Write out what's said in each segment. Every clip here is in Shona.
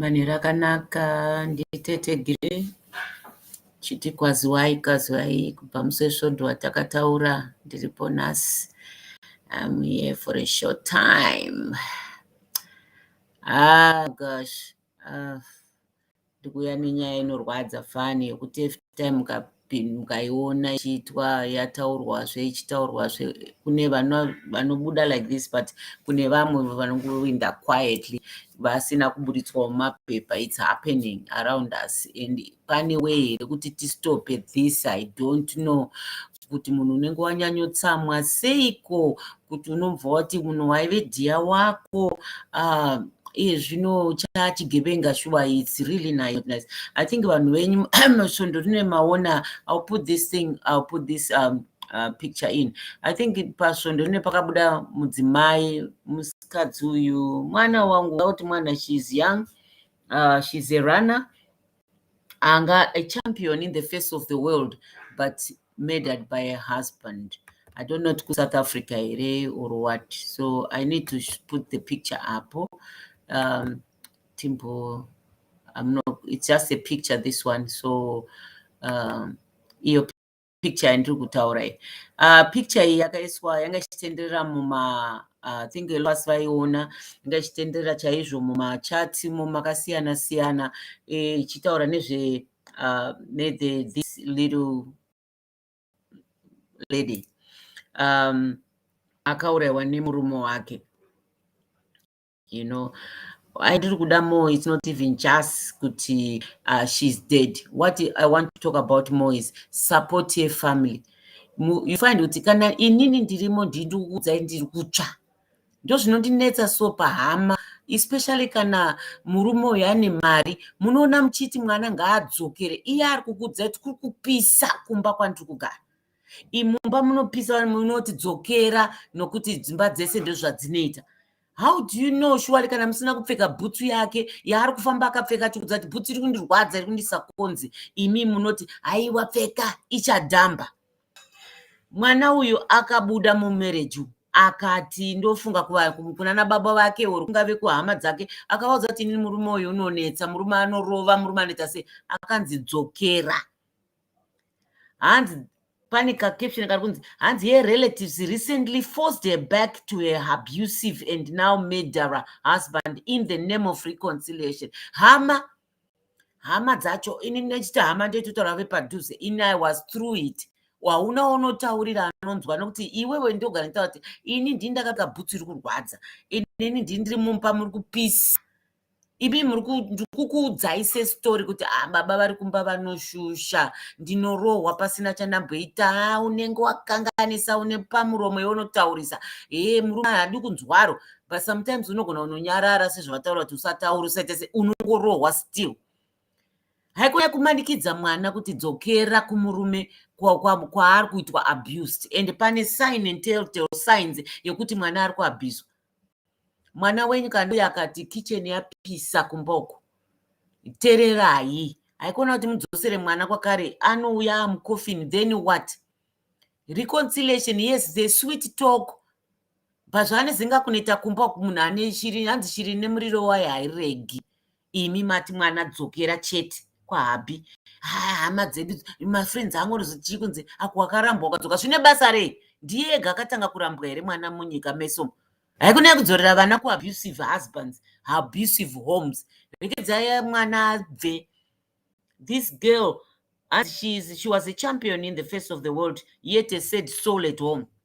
Manheru akanaka nditete Gire chiti kwaziwai kwaziwai kubva musi wesvondo watakataura ndiripo nhasi I'm here for a short time ah gosh ah. ndikuya nenyaya inorwadza fani yekuti every time mukaiona ichiitwa yataurwazve ichitaurwazve kune vanobuda like this but kune vamwe vanongoinda quietly vasina kuburitswa mumapepa its happening around us and pane way here kuti tistope this i don't know kuti munhu unenge wanyanyotsamwa seiko kuti unobva wati munhu waive dhiya wako uh, iye zvino chachigevenga shuwa its really nice i think vanhu venyu svondo rine maona ill put this thing ill put this um, uh, picture in i think pasvondo rine pakabuda mudzimai musikadzi uyu mwana wangu auti mwana shes young uh, shes a runner anga a champion in the face of the world but murdered by a husband i don't know kuti south africa here or what so i need to put the picture apo um, timbo i'm not it's just a picture this one so um, iyo picture yandiri kutaura iyi uh, picture iyi yakaiswa yanga ichitenderera muma uh, think last vaiona yanga ichitenderera chaizvo mumachat mo makasiyana siyana eh, ichitaura nezve uh, nethe this little lady um, akauraiwa nemurume wake you know I did kuda more it's not even just kuti uh, she's dead what I want to talk about more is support your family you find kuti kana inini ndirimo ndindikuudzai ndiri kutsva ndozvinondinetsa so pahama especially kana murume uyo ane mari munoona muchiti mwana ngaadzokere iye ari kukuudzai kuti kuri kupisa kumba kwandiri kugara imumba munopisa munoti dzokera nokuti dzimba dzese ndozvadzinoita how do you know shuwari kana musina kupfeka bhutsu yake yaari kufamba akapfeka chikudza kuti bhutsu iri kundirwadza iri kundisa konzi imi munoti haiwa pfeka ichadhamba mwana uyu akabuda mumereji akati ndofunga kunana baba vake or kungave kuhama dzake akavaudza kuti ini murume uyu unonetsa murume anorova murume anoita sei akanzi dzokera hanzi pane kacaption kari kunzi hanzi her relatives recently forced her back to her abusive and now murderer husband in the name of reconciliation hama hama dzacho ini ndinechiti hama ndoitotaura vepadhuze ini i was through it hauna unotaurira anonzwa nokuti iwewe ndogara nitaura kuti ini ndini ndakaka bhutsu iri kurwadza inini ndini ndiri mumba muri kupisa imi ndikukuudzai sesitori kuti ah, baba vari kumba vanoshusha ndinorohwa pasina chandamboita ah, unenge wakanganisa une pamuromo yeunotaurisa hee eh, murume hadi kunzwaro but sometimes unogona unonyarara sezvavataura kuti usataura usaitese unongorohwa still haikona kumanikidza mwana kuti dzokera kumurume kwaari kuitwa abused and pane sign and telltale signs yekuti mwana ari kuabhizwa mwana wenyu kana uye akati kitchen yapisa kumba uko tererai haikona kuti mudzosere mwana kwakare anouya amucoffin then what reconciliation yes the sweet talk pazvaane zinga kuneta kumba munhu ane shiri hanzi shiri nemuriro wayo hairegi imi mati mwana dzokera chete kwahabhi haa hama dzedu mafriends angu chii kunzi ako wakarambwa ukadzoka zvine basa rei ndiye ega akatanga kurambwa here mwana munyika meso haikunyaya kudzorera vana kuabusive husbands abusive homes rekedzai mwana abve this girl as she, is, she was a champion in the face of the world yet a said soul at home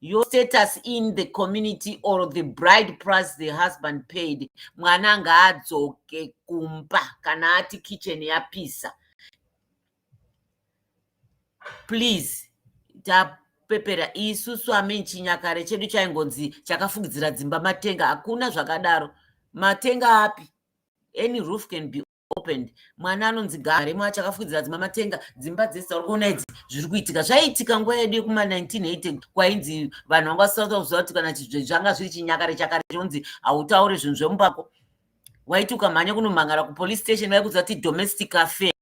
your status in the community or the bride price the husband paid mwana ngaadzoke kumba kana ati kitchen yapisa please tapepera isu swami chinyakare chedu chaingonzi chakafugidzira dzimba matenga hakuna zvakadaro matenga api any roof can be opened mwana anonzi garemo achakafukidzira dzima matenga dzimba dzese dzauri kuona idzi zviri kuitika zvaiitika nguva yedu yekuma 1980 kwainzi vanhu vanga vasisata kuziva kuti kana zvanga zviri chinyakare chakare chinonzi hautaure zvinhu zvemubako waiti ukamhanya kunomhangara kupolice station vaikuziva kuti domestic affair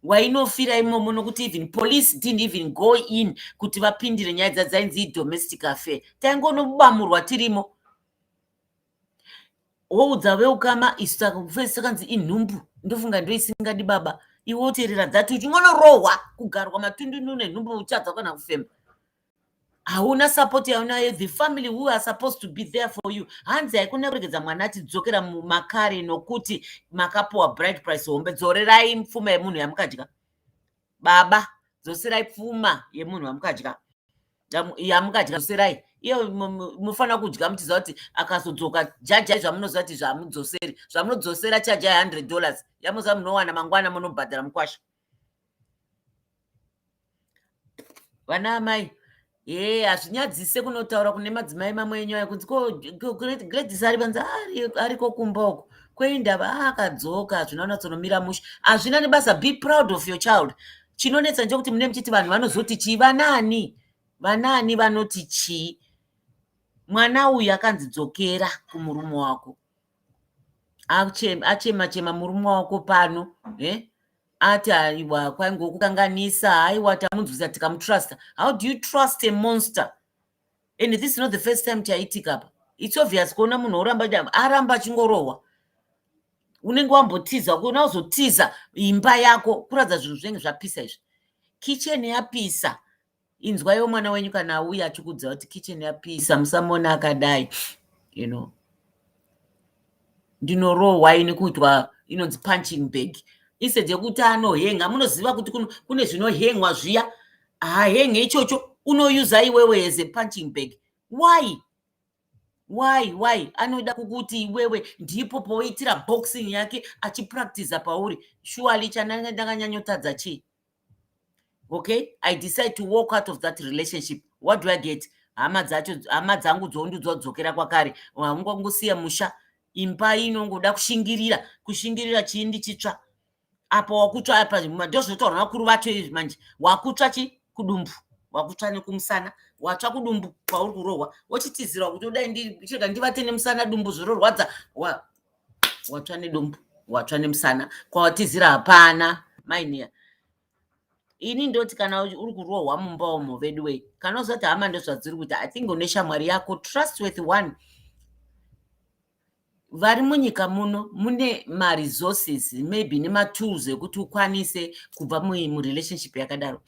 wainofira imomo nokuti even police didn't even go in kuti vapindire nyaya dzadzainzi idomestic affair taingonobamurwa tirimo woudza veukama isu saka kufesi kanzi inhumbu ndofunga ndoisingadi baba iwe woteerera that uchingonorohwa kugarwa matundundu nenhumbu uchadza kana kufema hauna support yaunayo the family who are supposed to be there for you hanzi haikona kuregedza mwana achidzokera mumakare nokuti makapuwa bright price hombe dzorerai mfuma yemunhu yamukadya baba dzoserai pfuma yemunhu wamukadya yamukadya dzoserai iyo munofanira kudya muchiziva kuti akazodzoka jajai zvamunoziva kuti zvamudzoseri zvamunodzosera chajai hundred dollars yamuziva munowana mangwana munobhadhara mukwasha vana amai Hey, eh, hazvinyadzise kunotaura kune madzimai mamwe enyu ayo kunzi gladys ari panzi ah, ariko kumba uko kweindava ah, akadzoka hazvina unatsonomira mushe hazvina nebasa be proud of your child chinonetsa ndechokuti mune muchiti vanhu vanozoti chii vanaani vanaani vanoti chii mwana uyu akanzi dzokera kumurume wako achema chema murume wako pano eh? ati aiwa kwainge kukanganisa aiwa tamunzwisa tikamutrusta how do you trust a monster and this is not the first time chaitika apa its obvious kuona munhu oramba aramba achingorohwa unenge wambotiza kuona uzotiza imba yako kuratidza zvinhu zvinenge zvapisa izvi kicheni yapisa inzwaiwo mwana wenyu kana auya achikuudza kuti kitchen yapisa musamona akadai you know ndinorohwa ini kuitwa inonzi punching bag instead yekuti anohenga munoziva kuti kune zvinohengwa zviya hahenge ichocho unoyuza iwewe as a punching bag why why why anoda kukuti iwewe ndipo poitira boxing yake achipractiza pauri shuali chananga ndakanyanyotadza chii okay i decide to walk out of that relationship what do i get hama dzacho hama dzangu dzoundudzwa kudzokera kwakare haungongosiya musha imba inongoda kushingirira kushingirira chii ndichitsva apa wakutsva apa ndozvotaura vakuru vacho izvi manje wakutsva chi kudumbu wakutsva nekumusana watsva kudumbu kwauri kurohwa wochitizirwa kuti udai ndichirega ndivate nemusana dumbu zvororwadza watsva nedumbu watsva nemusana kwawatizira hapana mainiya ini ndoti kana uri kurohwa mumba umo vedu wei kana uzati hama ndozvadziri kuita i think une shamwari yako trust with one vari munyika muno mune maresources maybe nematools ekuti ukwanise kubva murelationship yakadaro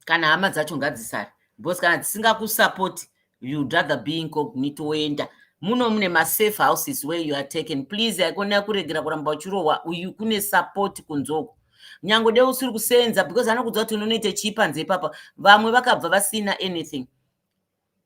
kana hama dzacho ngadzisare because kana dzisingakusapoti you'd rather be incognito woenda muno mune masafe houses where you are taken please haikona kuregera kuramba uchirohwa uyu kune support kunzoko nyange de usiri kuseenza because anokudzwa kuti unonoita chii panze ipapa vamwe vakabva vasina anything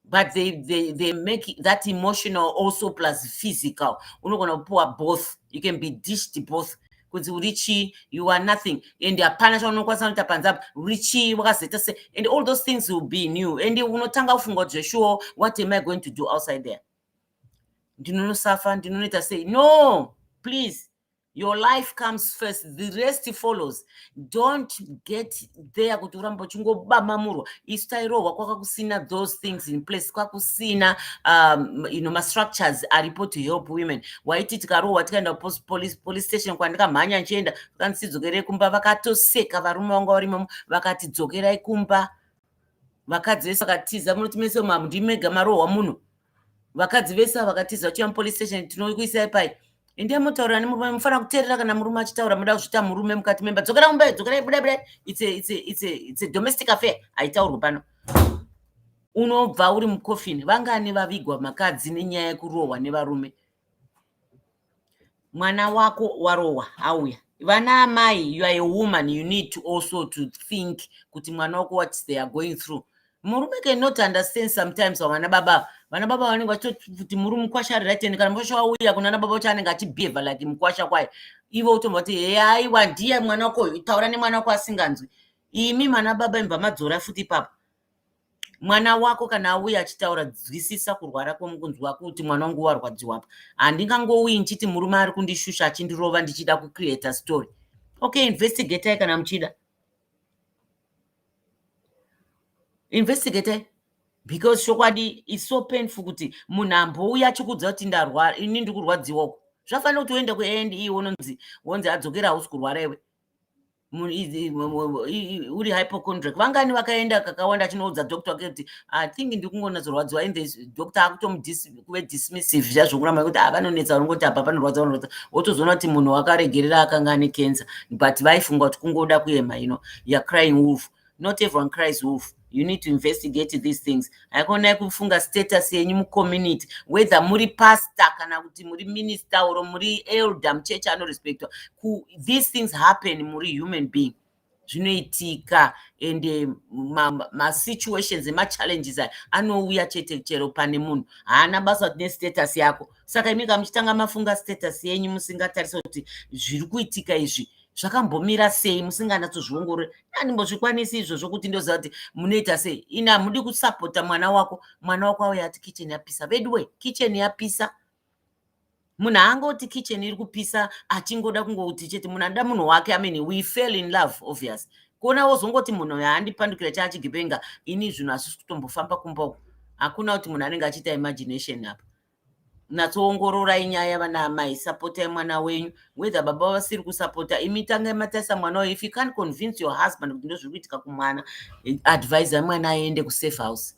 but they, they, they make that emotional also plus physical unogona kupiwa both you can be dished both kunzi uri chii you are nothing and hapana chaunokwanisa kunoita panze apo uri chii wakazoita se and all those things will be new and unotanga kufunga kuti zveshuwo what am i going to do outside there ndinonosafa ndinonoita sei no please your life comes first the rest follows don't get there kuti uramba uchingobamamurwa isu tairohwa kwaka kusina those things in place kwakusina um, you know, mastructures aripo to help women waiti tikarohwa tikaenda police, police station kwandikamhanya ndichienda vakanzi tidzokerei kumba vakatoseka varume vanga vari mamo vakati dzokerai kumba vakadzi vese vakatiza munoti mese mamdimega marohwa muno vakadzi vese vakatiza vachia mupolice station tinokuisai pai endai motaura nemurume mufanira kuteerera kana murume achitaura moda kuzvita murume mukati memba dzokera kumba dzokerai buda buda its a domestic affair haitaurwe pano unobva uri mucoffin vangani vavigwa makadzi nenyaya yekurohwa nevarume mwana wako warohwa auya vana amai you are a woman you need to also to think kuti mwana wako what they are going through murume cannot understand sometimes vana baba vana baba vanenge vachitoti kuti muri mukwasha ari rightend kana mukwasha wauya kunana baba vacho anenge achibhevha like mukwasha kwaye ivo utomva kuti heaiwa ndiye mwana wako taura nemwana wako asinganzwi imi mana baba imva madzora futi ipapo mwana wako kana auya achitaura dzwisisa kurwara kwemukunzwa kuti mwana wangu warwadziwa apa handingangouyi ndichiti murume ari kundishusha achindirova ndichida kucreata story okay investigatai kana muchida investigatai because chokwadi is so painful kuti munhu ambouya achikudza kuti ndarwara ini ndikurwadziwoko zvafanira kuti uende kuand e wononzi wonzi adzokera hausi kurwara iwe uri hypochondriac vangani vakaenda kakawanda achinoudza doctor wake kuti i think ndikungonatsorwadziwa in this doctor akutomukuve dismissive zviya zvokuramba kuti ah, vanonetsa vanongoti apa panorwadza vanorwadza wotozoona kuti munhu wakaregerera akanga ane cancer but vaifunga kuti kungoda kuema ino you're crying wolf not everyone cries wolf you need to investigate these things haikonayi kufunga status yenyu mucommunity whether muri pastor kana kuti muri minister or muri elder muchechi anorespectwa these things happen muri human being zvinoitika and eh, masituations ma emachallenges aya anouya chete chero pane munhu haana basa kuti nestatus yako saka imika muchitanga mafunga status yenyu musingatarisa kuti zviri kuitika izvi zvakambomira sei musinganatsozviongorore andimbozvikwanisi izvo zvokuti ndoziva kuti munoita sei ini hamudi kusapota mwana wako mwana wako auya ati kicheni yapisa veduwe kicheni yapisa munhu aangoti kicheni iri kupisa achingoda kungouti chete munhu anoda munhu wake amen we fell in love obvious kuona wozongoti munhu uyo haandipandukira chaachigipenga ini zvinhu hazvisi kutombofamba kumba uku hakuna kuti munhu anenge achiita imagination apa natsoongororai nyaya vana amai sapotai mwana wenyu whether baba vasiri kusapota imi tangai matarisa mwana uyo if you can't convince your husband kuti ndozviri kuitika kumwana advisai mwana aende kusafe house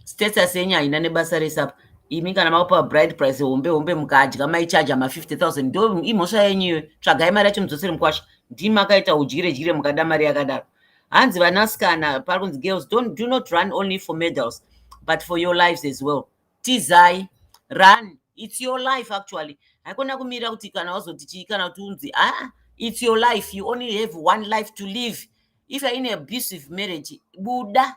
status yenyu haina nebasa rese apa imi kana makupa bride price hombe hombe mukadya maichaja ma 50 000 ndo imhosva yenyu iyoyo tsvagai mari yacho mudzosere mukwasha ndimi makaita udyire dyire mukada mari yakadaro hanzi vanasikana pakunzi girls don't do not run only for medals but for your lives as well tizai run it's your life actually haikona kumirira kuti kana wazoti chii kana kuti unzi aa ah, it's your life you only have one life to live if you're in abusive marriage buda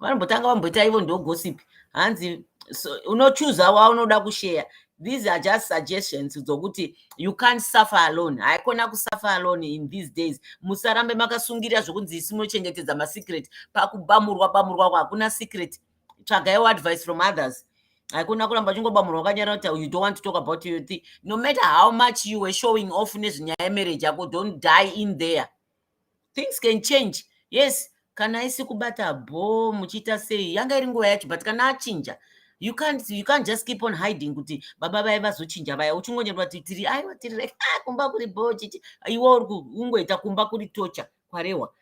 vanombotanga vamboita ivo ndo gossip hanzi so, unochuza waunoda kusheya these are just suggestions dzokuti you can't suffer alone haikona kusuffer alone in these days musarambe makasungirira zvokunzi isi munochengetedza masecret pakubamurwa bamurwa ko hakuna secret tsvagaiwo advice from others haikona kuramba uchingobamurwa kanyara kuti you don't want to talk about your thing no matter how much you were showing off nezvenyaya yemarriage yako don't die in there things can change yes kana isi kubata bho muchiita sei yanga iri nguva yacho but kana achinja you can't you can't just keep on hiding kuti baba vaye vazochinja vaya uchingonyorwa kuti tiri aiwa tiri like ah kumba kuri bho chichi iwe uri kungoita kumba kuri tocha kwarewa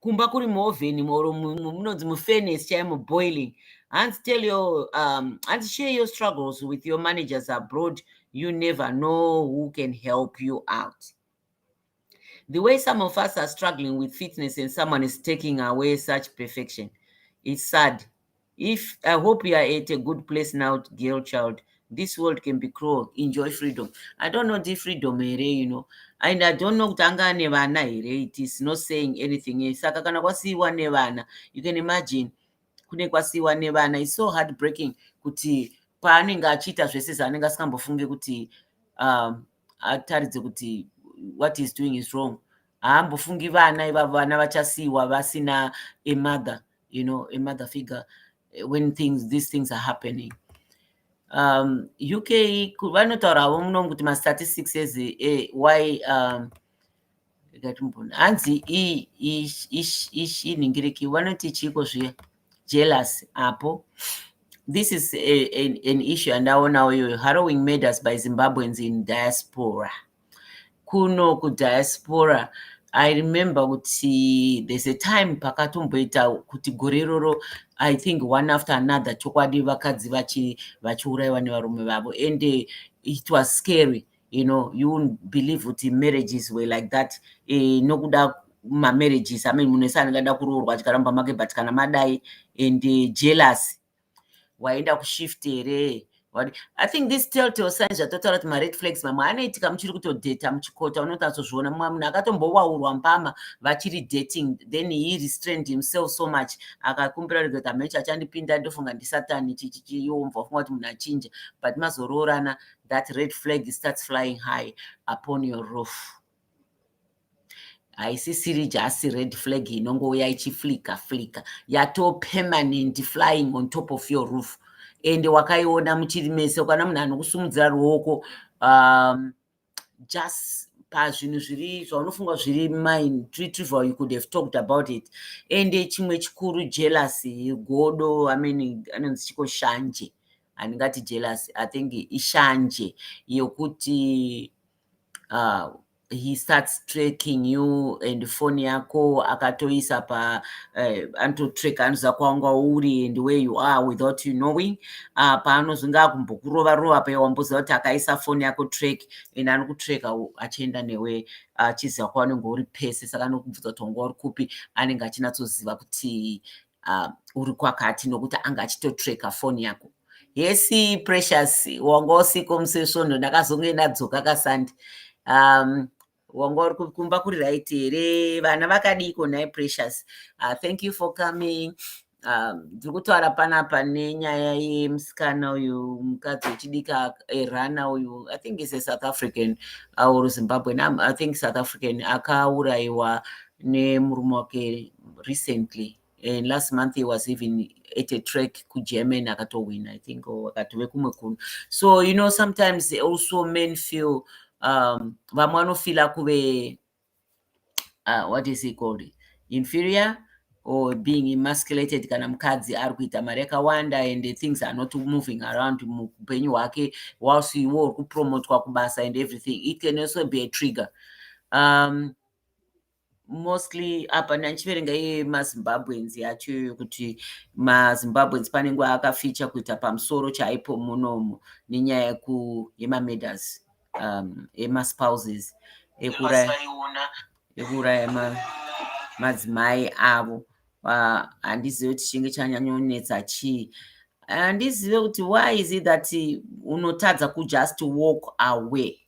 kumba kuri muovheni or munonzi mufenes chaimo boiling hanzi tell your um, hanzi share your struggles with your managers abroad you never know who can help you out The way some of us are struggling with fitness and someone is taking away such perfection, it's sad. If I hope you are at a good place now, girl child. This world can be cruel. Enjoy freedom. I don't know the freedom here, you know. And I don't know kutanga nevana here. It is not saying anything. Eh, saka kana kwasiiwa nevana, you can imagine kune kwasiiwa nevana. It's so heartbreaking kuti paanenge achiita zvese zvaanenge asingambofunge kuti um, ataridze kuti what is doing is wrong haambofungi vana ivavo vana vachasiyiwa vasina a mother you know a mother figure eh, when things these things are happening um, uk vanotaurawo muno kuti mastatistics ezi eh, why um, ikatimbona hanzi ishinhingiriki vanoti chiiko zviya jealous apo this is a, a, an issue andaonawo iyoyo harrowing murders by zimbabweans in diaspora kuno kudiaspora i remember kuti there's a time pakatomboita kuti gore iroro i think one after another chokwadi vakadzi vachiurayiwa nevarume vavo and it was scary you know you won't believe kuti marriages were like that e, nokuda mamarriages amene munhu ese anenge ada kuroorwa achikaramba make but kana madai and eh, jealous waenda kushift here i think this teltel signs zvatotaura kuti mared flags mamwe anoitika muchiri kutodheta muchikota unotatsozviona mumwe munhu akatombowaurwa mbama vachiri dating then he restrained himself so much akakumbira rega kuti amechi achandipinda ndofunga ndisatani chichichiyombva funga kuti munhu achinja but mazoroorana that red flag starts flying high upon your roof haisisiri just red flag inongouya ichiflika flika yato permanent flying on top of your roof ende wakaiona muchiri mese ukana munhu anokusumudzira ruoko um, just pazvinhu zviri zvaunofunga zviri mine retrieval you could have talked about it ende chimwe chikuru jealousy godo amene anonzi chiko shanje handingati jealous i think ishanje yokuti uh, he starts tracking you and phone yako akatoisa pa uh, eh, anototrack anoziva kwawanga uri and where you are without you knowing uh, paanozonge akumbokurova rova paye wamboziva kuti akaisa phone yako track and anokutracka achienda newe achiziva uh, kwawanenge uri pese saka anokubvunza kuti wanga uri kupi anenge achinatsoziva kuti uh, uri kwakati nokuti anga achitotreka foni yako hesi precious wanga usiko musi wesvondo ndakazonge ndadzoka kasandi um, wanga uri kumba kuri right here vana vakadiiko nhai precious uh, thank you for coming um, ndiri um, kutaura panapa nenyaya yemusikana uyu mukadzi wechidika erana uyu i think is a south african uh, or zimbabwean um, i think south african akaurayiwa nemurume wake recently and last month he was even at a track kugerman akatohwina i think or akatove kumwe kunhu so you know sometimes also men feel um, vamwe vanofila kuve uh, what is he called inferior or being emasculated kana mukadzi ari kuita mari yakawanda and things are not moving around muupenyu hwake whilst iwo uri kupromotwa kubasa and everything it can also be a trigger um, mostly apa ndandichiverenga iye mazimbabweans yacho iyoyo kuti mazimbabweans pane nguva akaficha kuita pamusoro chaipo munomu nenyaya yemamedas um, emaspouses ekuuraya madzimai avo handizive kuti chinge chanyanyonetsa chii handizive kuti why is it that unotadza kujust walk away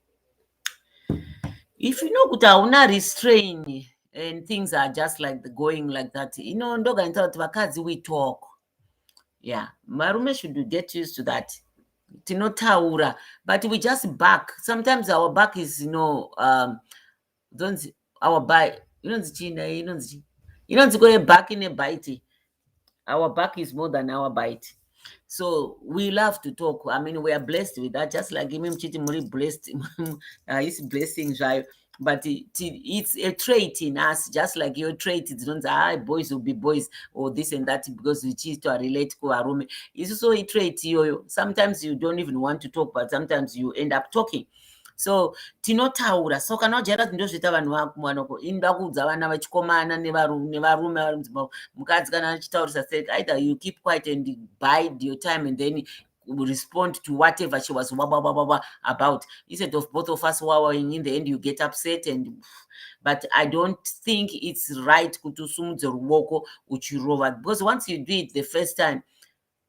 if you know kuti hauna restrain and things are just like the going like that ino ndoganisa kuti vakadzi we talk yeah varume should get used to that tinotaura but we just back sometimes our back is you know um, our back inonzi chii nayo inonzi chii inonzi kwe back ine bite our back is more than our bite so we love to talk i mean we are blessed with that just like imi muchiti muri blessed haisi uh, blessing zvayo but it, it's a trait in us just like your trait dzinonzi ha ah, boys will be boys or this and that because uchiitwa relate kuvarume isu so itrait iyoyo sometimes you don't even want to talk but sometimes you end up talking so tinotaura so kana ujaira kuti ndozviita vanhu vakumanoko inoda kuudza vana vachikomana nevarume varume mukadzi kana achitaurisa sek either you keep quiet and bide your time and then respond to whatever she was wa, wa, wa, wa, wa, about instead of both of us wawing in the end you get upset and but i don't think it's right kuti usumudze ruoko uchirova because once you do it the first time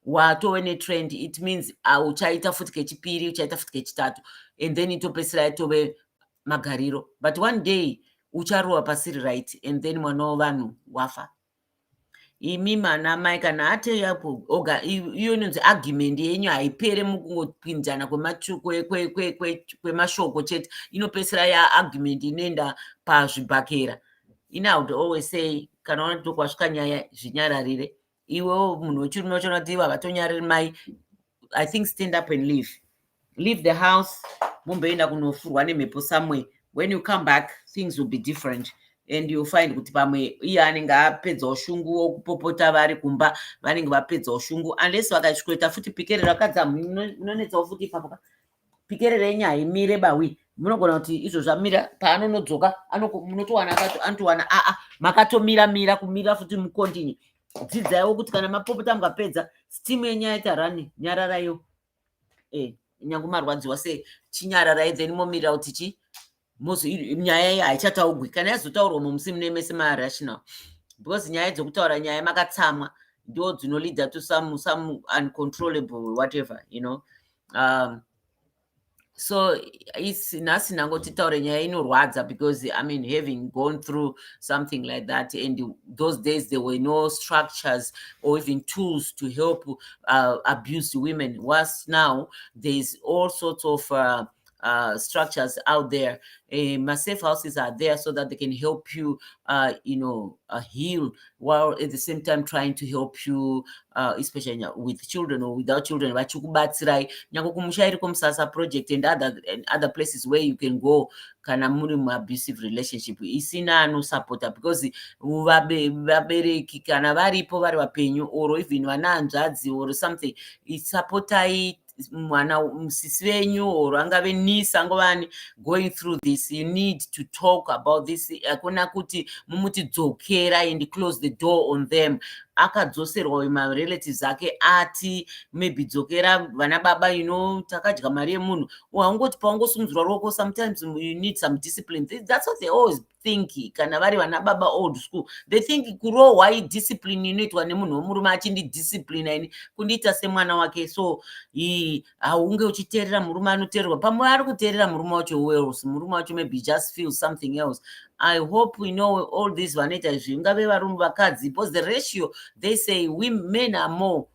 watove netrend it means auchaita ah, futi kechipiri uchaita futi kechitatu and then itopesira yatove magariro but one day ucharowa pasiri right and then mwana wevanhu wafa imi mana mai kana atei apo oga iyo inonzi argument yenyu haipere mukungopinzana kwemashoko chete inopesira ya argument inoenda pazvibhakera ini i would always say kana wanatokwasvika nyaya zvinyararire iwewo munhu wechirume uchaona kuti ivo havatonyariri mai i think stand up and leave leave the house mumboenda kunofurwa nemhepo somewhere when you come back things will be different and you find kuti pamwe iye anenge apedza ushungu wokupopota vari kumba vanenge vapedza ushungu unless vakasvikoita futi pikerera kadzamu inonetsawo futi ipapo pikererei nyaya imire bawi munogona kuti izvo zvamira paanonodzoka munotowana anotowana aa makatomira mira kumira futi mukontinye dzidzaiwo kuti kana mapopota mukapedza stimu yenyaya ita rani nyararaiwo e eh, nyange marwadziwa sei chinyararai then momirira kuti chi nyaya iyi haichataugwi kana yazotaurwa mumusi mune mese marational because nyaya dzokutaura nyaya makatsamwa ndo dzinoleader to some some uncontrollable whatever you know um, so isi nhasi nhango titaure nyaya inorwadza because i mean having gone through something like that and those days there were no structures or even tools to help uh, abuse women whilst now thereis all sorts of uh, uh, structures out there. Uh, my safe houses are there so that they can help you, uh, you know, uh, heal while at the same time trying to help you, uh, especially with children or without children. Vachikubatsirai nyangwe kumusha iriko musasa project and other and other places where you can go kana muri muabusive relationship isina anosupporta because vabereki kana varipo vari vapenyu or even vana hanzvadzi or something supportai mwana musisi venyu or angave niece angovani going through this you need to talk about this hakuna kuti mumuti dzokera and close the door on them akadzoserwa uyu marelatives ake ati maybe dzokera vana baba you know takadya mari yemunhu haungoti paungosungudzirwa ruoko sometimes you need some discipline that's what they always think kana vari vana baba old school they think kurohwa idiscipline inoitwa nemunhu wemurume achindidisciplina ini kundiita semwana wake so haunge uchiteerera murume anoteererwa pamwe ari kuteerera murume wacho welse murume wacho maybe just feel something else i hope we know all these vanoita izvi ingave varume vakadzi because the ratio they say we men are more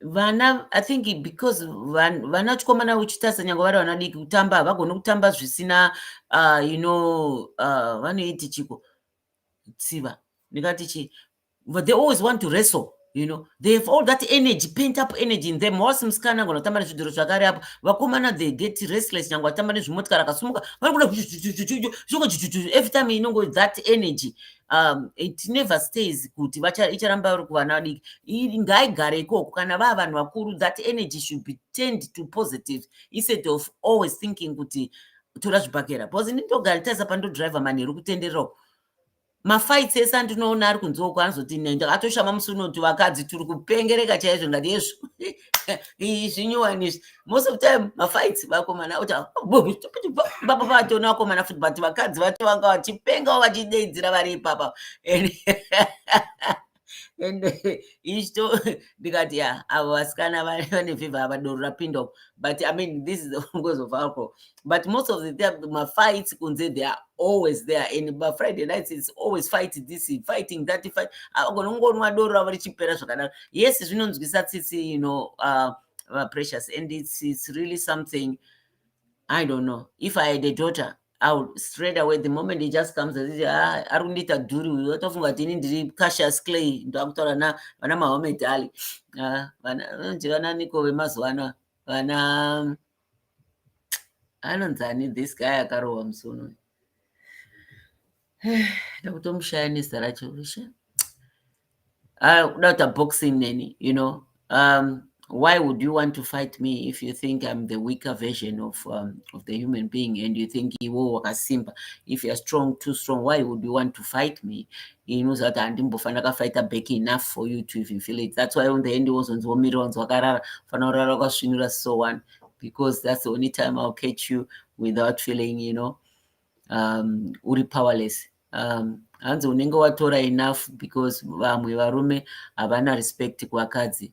vana i think because vana chikomana uchitarisa nyange vari vana diki kutamba havagoni kutamba zvisina uh, you know uh, vanoiti chiko tsiva ndingati chi but they always want to wrestle you know they have all that energy paint up energy in them wasi musikana angona kutamba nezvidhoro zvakare apo vakomana they get restless nyange vatamba nezvimotikari akasumuka vanokuda every time inongo that energy you um, it never stays kuti icharamba uri kuvana vadiki ngaigare ikoko kana vaa vanhu vakuru that energy should be turned to positive instead of always thinking kuti tora zvibhakera because ini ndogara taisa pandodriver manheru kutendererako mafights ese andinoona ari kunzoko anozoti nenda atoshama musi unoti vakadzi tiri kupengereka chaizvo ngati yezvo zvinyowani izvi most of time mafights vakomana kuti baba vatona vakomana futi but vakadzi vacho vanga vachipengawo vachideidzira vari ipapa and ichito ndikati ya avo vasikana vane vhivha havadoro rapinda but i mean this is the cause of alcohol but most of the time my fights kunze they are always there and by friday nights it's always fight this fighting that fight agonongonwa doro ravo richipera zvakadaro yes zvinonzwisa tsitsi you know uh, uh, precious and it's, it's really something i don't know if i had a daughter I would straight away the moment he just comes and says, ah, ari kundiita dhuri uyu watofunga kuti ini ndiri cassius clay ndakutaura na vana mahomed ali ah, vana nje vana niko vemazuva ano vana anonzani this guy akarohwa musi uno ndakutomushaya nezita racho rusha ah, kuda kuita boxing neni you know um, why would you want to fight me if you think i'm the weaker version of, um, of the human being and you think iwo wakasimba if you're strong too strong why would you want to fight me Ini unoziva kuti handimbofa ndakafighta back enough for you to even feel it. That's why on the end wozonzi womirira wanzi wakarara fana kurara wakasvinura so one because that's the only time I'll catch you without feeling you know um, uri powerless um, hanzi unenge watora enough because vamwe varume havana respect kuvakadzi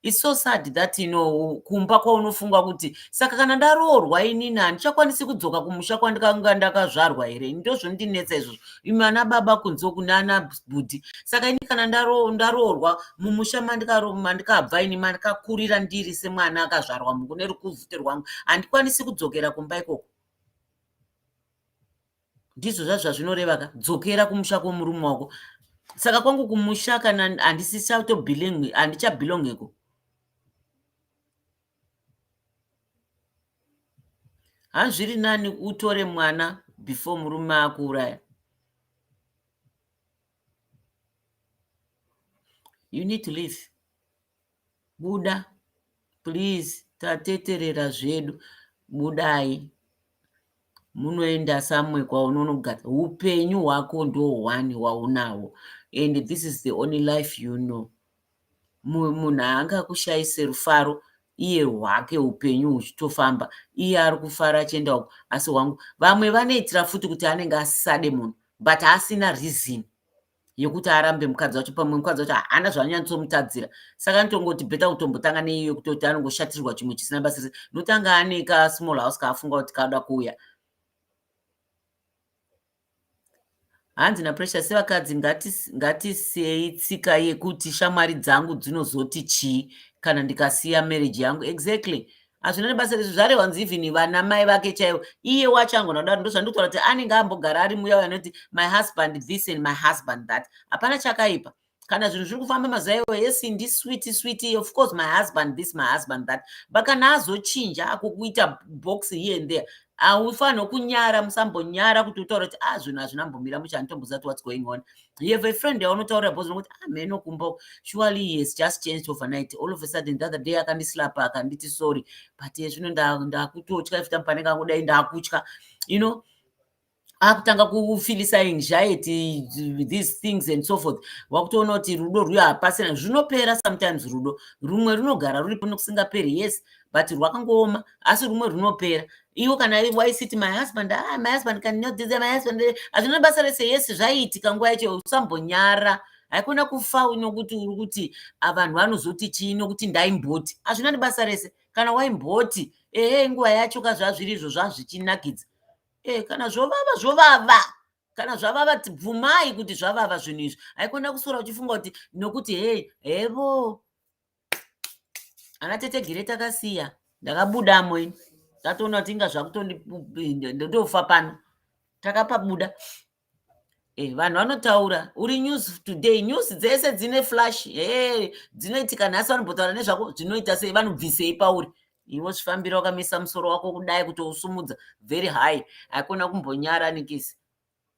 It's so sad that you know kumba kwaunofunga kuti saka kana ndaroorwa inini handichakwanisi kudzoka kumusha kwandikanga ndakazvarwa here ini ndozvondinetsa izvozvo imi ana baba kunze uku naana bhudhi saka ini kana ndaroorwa mumusha mandikabva ini mandikakurira ndiri semwana akazvarwa mukune rukuvhute rwangu handikwanisi kudzokera kumba ikoko ndizvo zvazvo zvazvinoreva ka dzokera kumusha kwomurume wako saka kwangu kumusha kana handisichatobilongi handichabilongeko hanzviri nani utore mwana before murume akuuraya you need to live Buda please tateterera zvedu budai munoenda samwe kwaunonogara upenyu hwako ndo one hwaunawo and this is the only life you know munhu haangakushayise rufaro iye hwake upenyu huchitofamba iye ari kufara achienda uko asi hwangu vamwe vanoitira futi kuti anenge asisade munhu but asina reason yekuti arambe mukadzi wacho pamwe mukadzi wacho haana zvaanyantsomutadzira saka anotongoti beta kutombotanga neiyo kutoti anongoshatirwa chimwe chisina basa rese notanga ane ka small house kaafunga kuti kaoda kuuya hanzi napresha sevakadzi ngatisiyei tsika yekuti shamwari dzangu dzinozoti chii kana ndikasiya marriage yangu exactly hazvina nebasa rezvi zvarehwa nzi even vana mai vake chaivo iye wacho angona kudaro ndozvandikutaura kuti anenge ambogara ari muya uyo anoti my husband this and my husband that hapana chakaipa kana zvinhu zviri kufamba mazuva iwo yes ndi switi switi of course my husband this my husband that but kana azochinja akukuita box here and there haufanirwe kunyara musambonyara kuti utaura kuti a ah, zvinhu hazvina mbomira muchanitombozati what's going on you have a friend yaunotaurira bhozi nokuti ah mheno kumba surely he has just changed overnight all of a sudden the other day akandislapa akanditi sorry but zvino ndakutotya if pane kangudai ndakutya you know akutanga kufilisa anxiety these things and so forth wakutoona kuti rudo rwuyo hapasina zvinopera sometimes rudo rumwe runogara ruripo nokusingaperi yes but rwakangooma asi rumwe rwunopera iwo kana waisiti my husband ah, my husband can not this my husband hazvina basa rese yes zvaiitika nguva yacho usambonyara haikona kufa nokuti uri kuti ah, vanhu vanozoti chii nokuti ndaimboti hazvina nebasa rese kana waimboti ehe nguva yacho ka zvazviri izvo zvazvichinakidza e kana zvovava zvovava kana zvavava bvumai kuti zvavava zvinhu izvi haikona kusora uchifunga kuti nokuti he hevo ana tete gere takasiya ndakabudamo ini ndatoona kuti inga zvakutondindotofa pano takapabuda e, vanhu vanotaura uri news today news dzese dzine flash e, dzinoitika nhasi vanombotaura nezvako zvinoita sei vanobvisei pauri iwe zvifambira wakamisa musoro wako kudai kuti usumudza very high haikona kumbonyara nikisi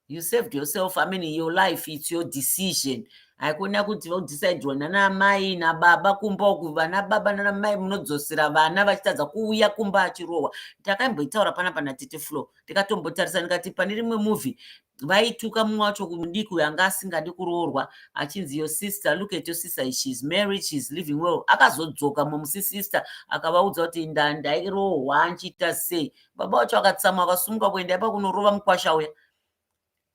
you saved yourself i mean your life it's your decision haikona kuti vaudecidirwa nana amai nababa kumba uku vana baba nana mai munodzosera vana vachitadza kuuya kumba achirohwa takaimboitaura pana pana tete flo ndikatombotarisa ndikati pane rimwe movie vaituka mumwe wacho kumudiki uyo anga asingadi kuroorwa achinzi your sister look at your sister shes married shes living well akazodzoka momusisister akavaudza kuti ndandairohwa nchiita sei baba vacho vakatsamwa vakasumuka kuenda ipa kunorova mukwasha uya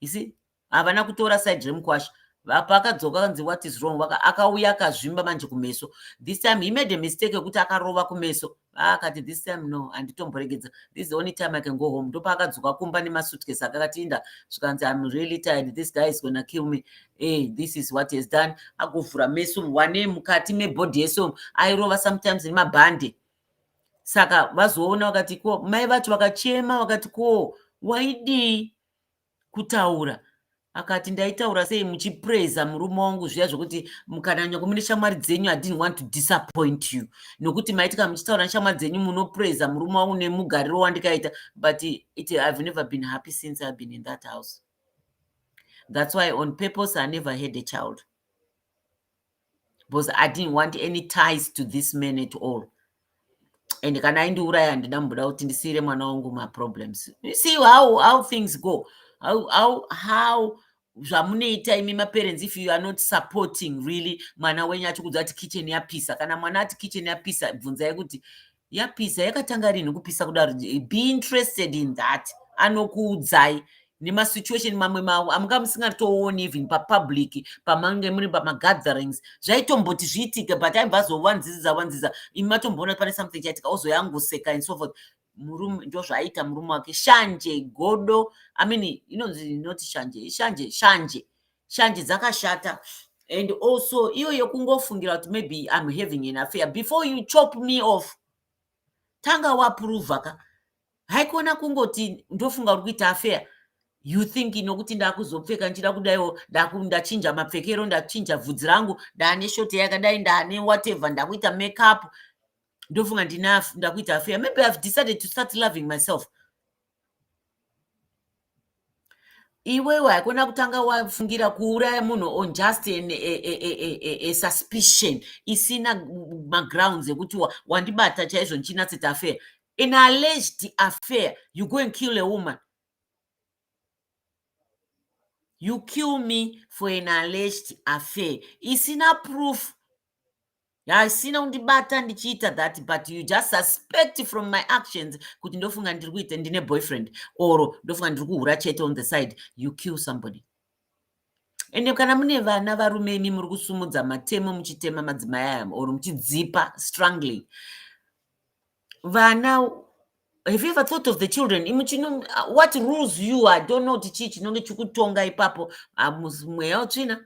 isi havana kutora side remukwasha paakadzoka kanzi what is wrong vaka akauya akazvimba manje kumeso this time he made a mistake yekuti akarova kumeso akati this time no handitomboregedza this the only time i can go home ndopaakadzoka kumba nemasutkes akakatinda zvikanzi im really tired this guy is gonna kill me hey, eh, this is what has done agovhura meso wane mukati mebody yeso airova sometimes nemabhande saka vazoona vakati ko mai vacho vakachema vakati ko waidii kutaura akati ndaitaura sei muchipraiza murume wangu zviya zvekuti mukananya kumune shamwari dzenyu idint want to disappoint you nokuti maitika muchitaura neshamwari dzenyu munopraiza murume wangu nemugariro wandikaita but it ihave never been happy since ihave been in that house thats why on purpose i never had a child because i didn't want any ties to this man at all and kana aindiuraya handina mbuda kuti ndisiire mwana wangu maproblems you see how, how things go how, how, how zvamunoita imi maparents if you are not supporting really mwana wenyu achikuudza kuti kitchen yapisa kana mwana ati kitchen yapisa bvunzai kuti yapisa yakatanga rinhi kupisa kudaro be interested in that anokuudzai nemasituation mamwe mawo amanga musingatooni even papublic pamange muri pamagatherings zvaitomboti zviitike but aibva azovanziziza vanziza imi matomboona pane something chaitika ozoyangoseka and so forth murume ndo zvaiita murume wake shanje godo i mean inonzi inoti shanje shanje shanje shanje dzakashata and also iyo yekungofungira kuti maybe im having an affair before you chop me off tanga waprova ka haikona kungoti ndofunga uri kuita affair you think nokuti ndakuzopfeka ndichida kudaiwo ndachinja mapfekero ndachinja vhudzi rangu ndaane shoti yakadai ndaane whatever ndakuita makeup ndofunga ndina ndakuita affair maybe ihave decided to start loving myself iwewe haikona kutanga wafungira kuuraya munhu on just an, a, a, a, a suspicion isina magrounds ekuti wandibata chaizvo ndichinatsita affair an alleged affair you go and kill a woman you kill me for an alleged affair isina proof haisina kundibata ndichiita that but you just suspect from my actions kuti ndofunga ndiri kuita ndine boyfriend or ndofunga ndiri kuhura chete on the side you kill somebody ende kana mune vana varume imi muri kusumudza matemo muchitema madzimai aya or muchidzipa strongly vana have you ever thought of the children imi chino what rules you i don't know kuti chii chinonge chikutonga ipapo ah, mweya utsvina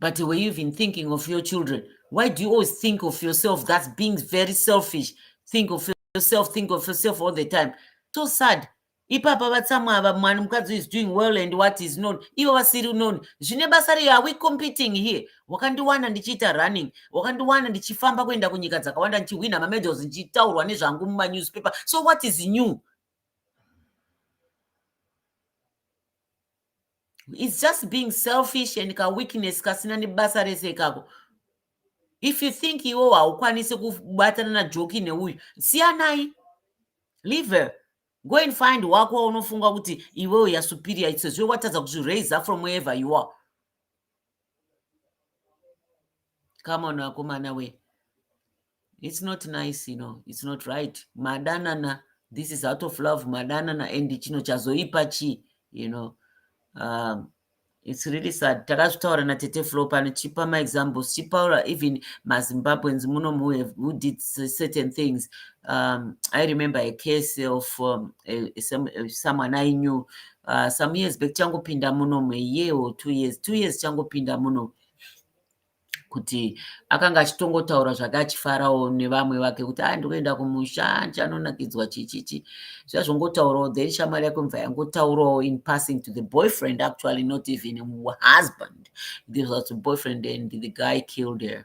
but were you even thinking of your children why do you always think of yourself that's being very selfish think of yourself think of yourself all the time so sad ipapa vatsamwa ava mwani mukadzi is doing well and what is known ivo vasiri known zvine basa rei are we competing here wakandiwana ndichiita running wakandiwana ndichifamba kuenda kunyika dzakawanda ndichihwina mamedals ndichitaurwa nezvangu mumanewspaper so what is new its just being selfish and kaweakness kasina nebasa rese ikako if you think iwo haukwanisi kubatana najoki neuyu siyanai liver go and find wako waunofunga kuti iwewo yasuperior itsezve watadza kuzviraise from wherever you are come on akomana we it's not nice you know it's not right madanana this is out of love madanana and chino chazoipa chii you know um, it's really sad takazvitaura natete flo pano chipa maexamples chipaura even mazimbabweans muno who did certain things um, i remember a case of um, a, a, some, a, someone i knew uh, some years back changopinda muno muyee or two years two years changopinda muno kuti akanga achitongotaura zvake achifarawo nevamwe vake kuti a ah, ndikuenda kumusha ndichanonakidzwa chichichi zvazvongotaurawo then shamwari yako mva yangotaurawo in passing to the boyfriend actually not even husband this was the boyfriend and the guy killed her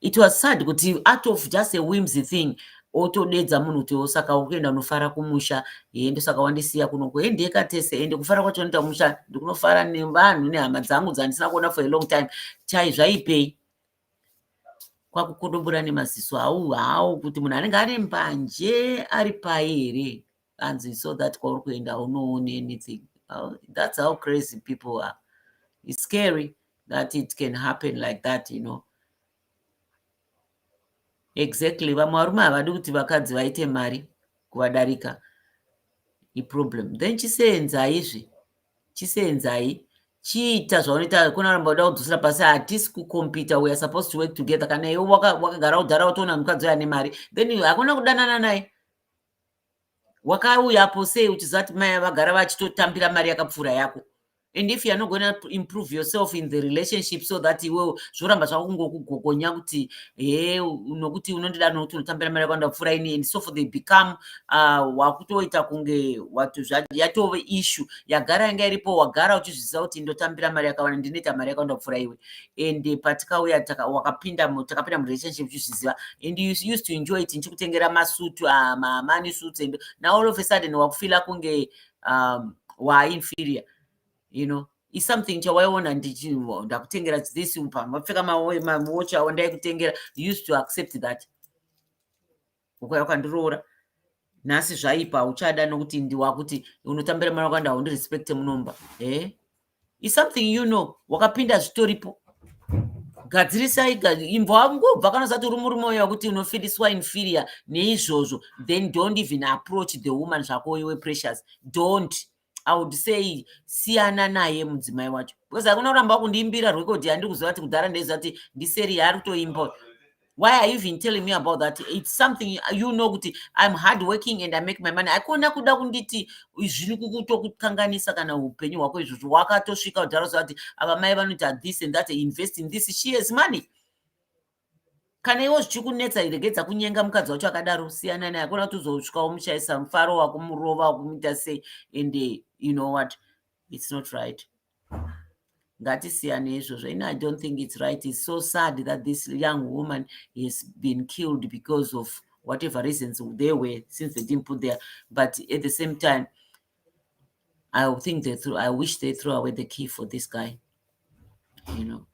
it was sad kuti out of just a whimsy thing otodedza munhu kuti osaka ukuenda unofara kumusha hee ndosaka wandisiya kunoko hee ndeka tese ende kufara kwacho anoita kumusha ndikunofara nevanhu nehama dzangu dzandisina kuona for a long time chai zvaipei kwakukodobora nemaziso hau hau kuti munhu anenge ane mbanje ari pai here hanzi so that kwauri kuenda haunooni anything oh, that's how crazy people are it's scary that it can happen like that you know exactly vamwe varume havadi kuti vakadzi vaite mari kuvadarika iproblem then chiseenzai izvi chiseenzai chiita zvaunoita kunoramba uda kudzosera pasi hatisi kukompita weare supposed to work together kana iwe wakagara kudhara watoona mukadzi uyo ane mari then hakuna kudanana naye wakauyapo sei uchiziva kuti mai vagara vachitotambira mari yakapfuura yako and if youare not gona improve yourself in the relationship so that iwe zvoramba zvako kungokugogonya kuti he nokuti unondida nokuti unotambira mari yako ndapfuura ini and so for they become ah, wakutoita kunge yatove issue yagara yanga iripo wagara uchizviziva kuti ndotambira mari yakawanda ndinoita mari yako ndapfuura iwe and patikauya wakapinda takapinda murelationship uchizviziva and you used to enjoy it ndichikutengera masutu ah, mamani suits and now all of a sudden wakufila kunge um, waainferior you know is something chawaiona ndichivo ndakutengera this pamapfeka mawochi awo ndaikutengera used to accept that ukauya ukandiroora nhasi zvaipa uchada nokuti ndiwakuti unotambira mwana wakanda haundirespecte munomba e is something you know wakapinda zvitoripo gadzirisai imbwa ngobva kana usati uri murume uya wekuti unofidiswa inferior neizvozvo then don't even approach the woman zvako iwe precious don't i would say siyana naye mudzimai wacho because akuna kuramba kundiimbira record yandiri kuziva kuti kudhara ndaiziva kuti ndiseri yaari kutoimba why are you even telling me about that it's something you know kuti i'm hard working and i make my money akona kuda kunditi zviri kukutokukanganisa kana upenyu hwako izvozvo wakatosvika kudhara ziva kuti ava mai vanoita this and that invest in this she has money kana iwo zvichikunetsa regedza kunyenga mukadzi wacho akadaro siyana naye akona kuti uzosvika womushaisa mufaro wakumurova wakumuita sei and eh, you know what it's not right ngatisiyane izvozvo ini i don't think it's right it's so sad that this young woman has been killed because of whatever reasons they were since they didn't put there but at the same time i think they threw i wish they threw away the key for this guy you know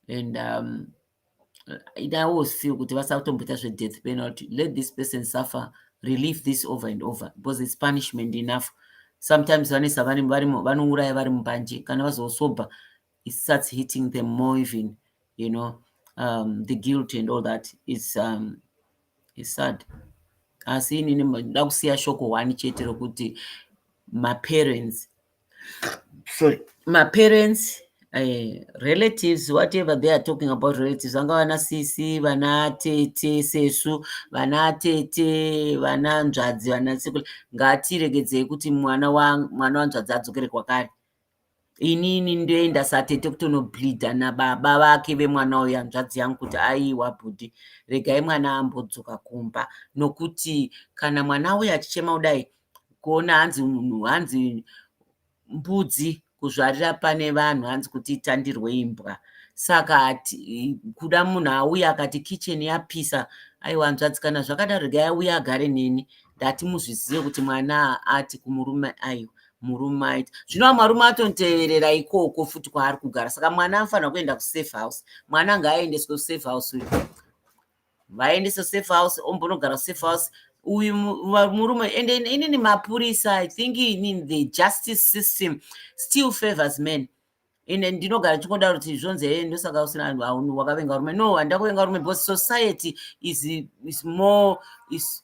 and um, it i always feel kuti vasatomboita zvedeath penalty let this person suffer relieve this over and over because its punishment enough sometimes vanesa vanouraya vari mubanje kana vazosobha it starts hitting them more even you know um, the guilt and all that is um, is sad asi inini nda kusiya shoko one chete rokuti maparents sorry maparents uh, relatives whatever they are talking about relatives vanga vana sisi vana tete sesu vana tete vana nzvadzi vana sekula ngatiregedzei kuti mwana mwana wanzvadzi adzokere kwakare inini ndoenda satete kutonobleeda nababa vake vemwana uyo hanzvadzi yangu kuti aiwa bhudhi regai mwana ambodzoka kumba nokuti kana mwana uyo achichema kudai kuona hanzi munhu hanzi mbudzi kuzvarira pane vanhu hanzi kuti itandirwe imbwa saka kuda munhu auya akati kitchen yapisa aiwa nzvadzi kana zvakadaro regai auya agare neni ndati muzvizive kuti mwana ati kumurume aiwa murume aiti zvino vamarume atonteverera ikoko futi kwaari kugara saka mwana anofanira kuenda kusafe house mwana ngaaendeswe kusafe house uyo vaendese safe house ombonogara safe house uyu murume and inini mapurisa i think in the justice system still favors men and ndinogara chingoda kuti zvonzi hee ndosaka usina wakavenga rume no handina kuvenga rume because society is, is more is,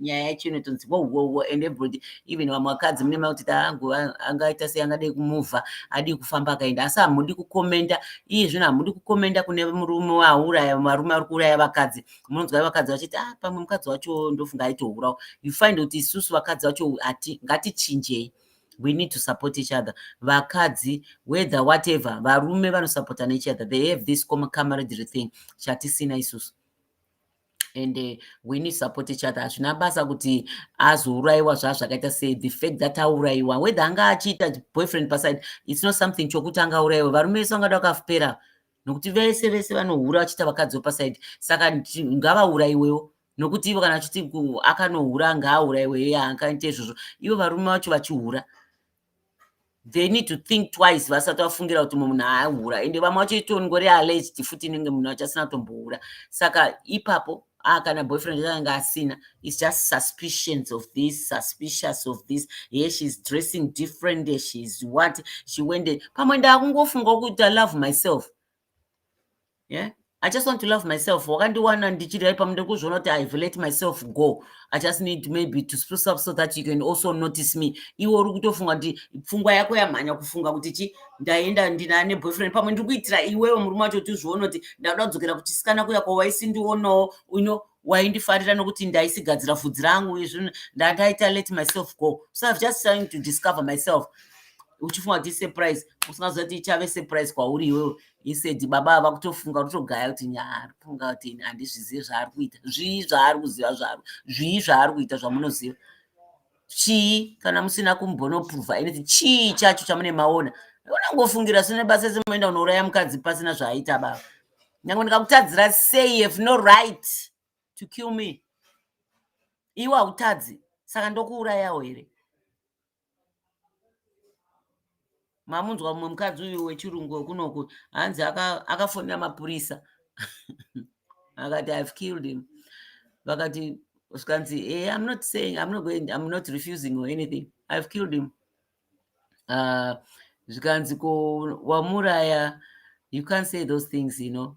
nyaya yacho inotonzi wowowo and everybody even vamwe vakadzi mune makuti taangu angaita sei angadei kumuvha adii kufamba akaenda asi hamudi kukomenda iye zvino hamudi kukomenda kune murume waauraya varume ari kuuraya vakadzi munonzwa vakadzi vachiti ah pamwe mukadzi wacho ndofunga aitourawo you find kuti isusu vakadzi vacho ati ngatichinjei we need to support each other vakadzi whether whatever varume vanosupportana each other they have this camaradery thing chatisina isusu and uh, we need support each other hazvina basa kuti azourayiwa zva zvakaita se the fact that aurayiwa whether anga achiita boyfriend paside its not something chokuti anga aurayiwa varume vese vangada vakapera nokuti vese vese vanohura vachiita vakadzi wepaside saka ngavaurayiwewo nokuti ivo kana achiti akanohura ngaaurayiwe ye akaita izvozvo ivo varume vacho vachihura they need to think twice vasati vafungira kuti munhu ahura ende vamwe vacho itongori alleged futi inenge munhu achasina kutombohura saka ipapo ah kana boyfriend yaanga asina its just suspicions of this suspicious of this here sheis dressing different sheis what she wende pamwe ndaakungofunga kuita love myself yeah i just want to love myself wakandiwana ndichiri ipa mude kuzviona kuti ive let myself go i just need maybe to spruce up so that you can also notice me iwe uri kutofunga kuti pfungwa yako yamhanya kufunga kuti chi ndaenda ndina neboyfriend pamwe ndiri kuitira iwewe murume wacho kuti uzviona kuti ndakuda kudzokera kuchisikana kuya kwawaisindionawo uno you know, waindifarira nokuti ndaisigadzira vhudzi rangu uye zvino ndandaita let myself go so ive just trying to discover myself uchifunga kuti isurprise usingaziva kuti ichave surprise kwauri iwewe isedi baba ava kutofunga kutogaya kuti nyaari kufunga kuti ini handizvizivi zvaari kuita zvii zvaari kuziva zvaro zvii zvaari kuita zvamunoziva chii kana musina kumbonoprova anything chii chacho chamune maona unangofungira sine basa ese munoenda unouraya mukadzi pasina zvaaita baba nyange ndikakutadzira sei have no right to kill me iwe hautadzi saka ndokuurayawo here mamunzwa mumwe mukadzi uyu wechirungu wekunoku hanzi akafonera aka mapurisa akati ihave killed him vakati zvikanzi hey, eh, i'm not saying i'm not going i'm not refusing or anything ihave killed him uh, zvikanzi ko wamuraya you can't say those things you know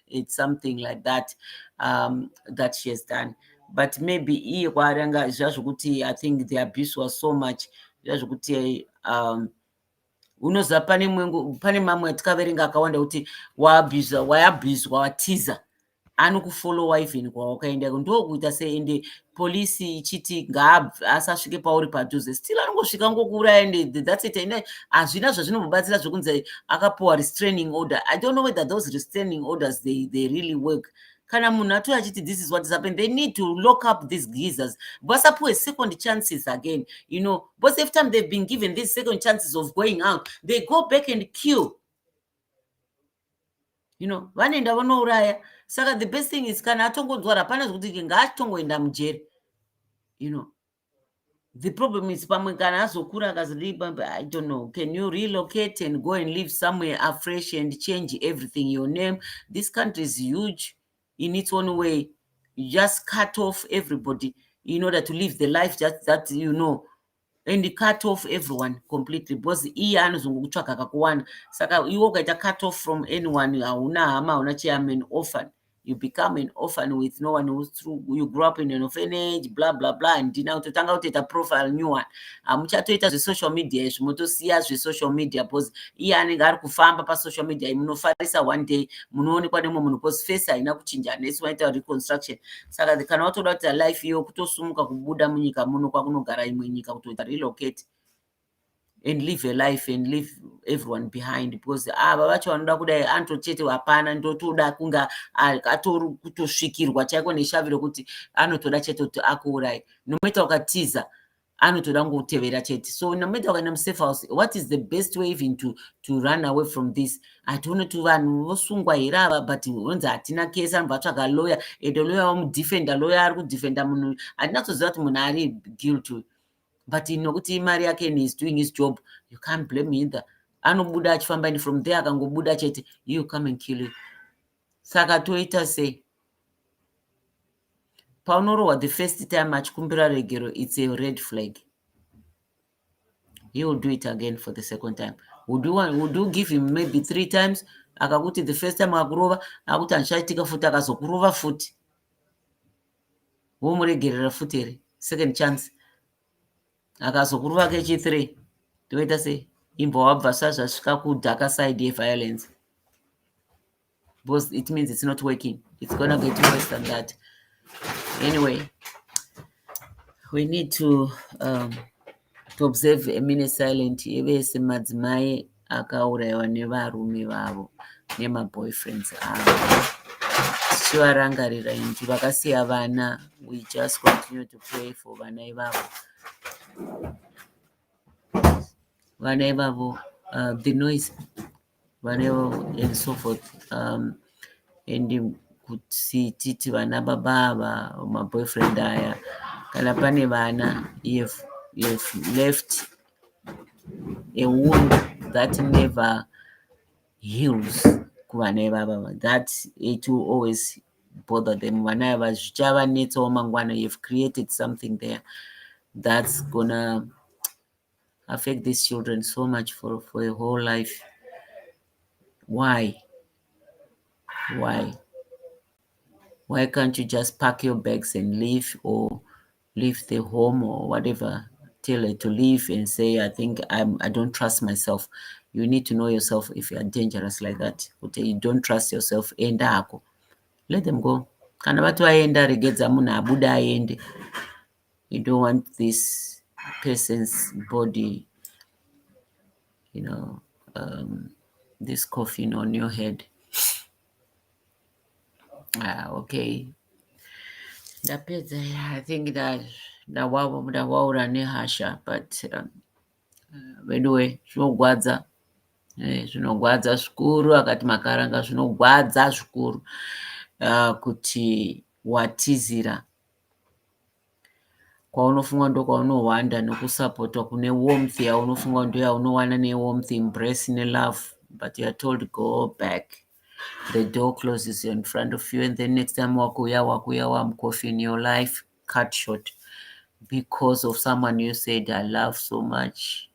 it's something like that um, that she has done but maybe iye kwaari anga zviya zvokuti i think the abuse was so much zviya zvokuti um, unoziva pane mwengu pane mamwe atikaverenga akawanda kuti waabhizwa wayabhizwa watiza anokufollowa even kwawakaendako ndokuita sei ende police ichiti ngaasasvike pauri padhuze still anongosvika ngokuuraya and that's it and hazvina zvazvinombobatsira zvekunzi akapuwa restraining order i don't know whether those restraining orders they, they really work kana munhu atoi achiti this is what is happen they need to lock up these geezers vasapuwe second chances again you know because every time they've been given these second chances of going out they go back and kill you know vanoenda vanouraya saka the best thing is kana atongonzwara hapana zvekuti ke ngaatongoenda mujeri you know the problem is pamwe kana azokura akazilibabe i don't know can you relocate and go and live somewhere afresh and change everything your name this country is huge in its own way you just cut off everybody in order to live the life that, that you know and cut off everyone completely because iye anozongokutsvaga kakuwana saka iwe ukaita cut off from anyone hauna hama hauna chii am an orphan you become an orphan with no one who's through you grew up in an orphanage blah blah blah handina kutotanga kutoita profile new one hamuchatoita zvesocial media izvi motosiya zvesocial media because iye anenge ari kufamba pasocial media munofarisa one day munoonekwa nemwe munhu because face haina kuchinja unless waita reconstruction saka kana watoda kuita life iyo kutosumuka kubuda munyika muno kwakunogara imwe nyika kutoita relocate and leave a life and leave everyone behind because ava vacho vanoda kudai anto chete hapana ndotoda kunga atori kutosvikirwa chaiko neshavi rekuti anotoda chete kuti akuurai nomaita ukatiza anotoda kutevera chete so no matter wakaenda musafe house what is the best way even to, to run away from this hatione kuti vanhu vosungwa here ava but unonzi hatina kesi anobva atsvaga lawyer ende lawyer wamudefenda lawyer ari kudefenda munhu uyu hatina kutoziva kuti munhu ari guilt uyu but nokuti mari yake and is doing his job you can't blame either anobuda achifamba and from there akangobuda chete you come and kill you saka toita sei paunorohwa the first time achikumbira regero its a red flag he will do it again for the second time would you, want, would you give him maybe three times akakuti the first time akurova akuti handichaitika futi akazokurova futi womuregerera futi here second chance akazokurova kechithree toita sei imbowabva sazvasvika kudhaka side yeviolence because it means it's not working it's gonna get worse than that anyway we need to um, to observe a minute silent evese madzimai akaurayiwa nevarume vavo nemaboyfriends avo tichivarangarira inti vakasiya vana we just continue to pray for vana ivavo vana ivavo uh, the noise vanewo and so forth um, and kuti titi vana baba ava maboyfriend aya kana pane vana you've, you've left a wound that never heals kuvana ivava that it will always bother them vana ava zvichavanetsawo mangwana you've created something there that's gonna affect these children so much for, for a whole life why why why can't you just pack your bags and leave or leave the home or whatever tell her to leave and say i think I'm, i don't trust myself you need to know yourself if you are dangerous like that kuti you don't trust yourself enda hako let them go kana vati vaenda regedza munhu abude aende you don't want this person's body you know um, this coffin on your head ah, okay ndapedza i think that ndawavo ndavaura nehasha but um, uh, veduwe zvinogwadza eh, zvinogwadza zvikuru akati makaranga zvinogwadza zvikuru uh, kuti watizira Kwaunofunga ndokwaunohwanda nokusapotwa kune warmth yaunofunga kuti ndoyaunowana ne warmth, embrace ne love but you're told go back the door closes in front of you and then next time wakuuya wakuuya wamucoffin your life cut short because of someone you said I love so much.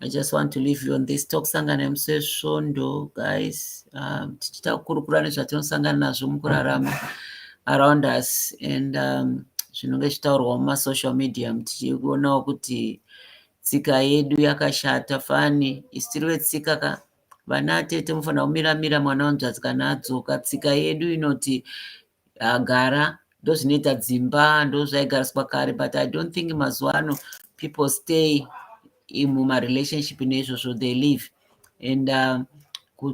I just want to leave you on this talk sangana nemusi wesvondo guys um, tichita kukurukura nezvatinosangana nazvo mukurarama around us and um, zvinonge zvichitaurwa mumasocial media tichionawo kuti tsika yedu yakashata fani isitiri vetsika ka vana tete mufanira kumiramira mwana wanzvadzi kana adzoka tsika yedu inoti agara ndozvinoita dzimba ndozvaigariswa kare but i don't think mazuva ano people stay mumarelationship neizvozvo they live and uh,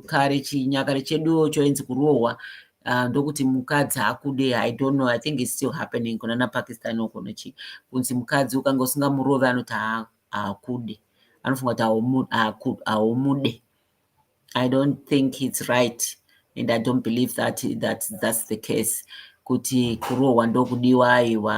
kare chinyakare cheduwo choinzi kurohwa uh, ndokuti mukadzi akude i don't know i think its still happening kunana pakistan uko nochi kunzi mukadzi ukanga usingamurove anoti haakude anofunga kuti haaumude I don't think it's right and I don't believe that, that that's the case kuti kurohwa ndokudiwa aiwa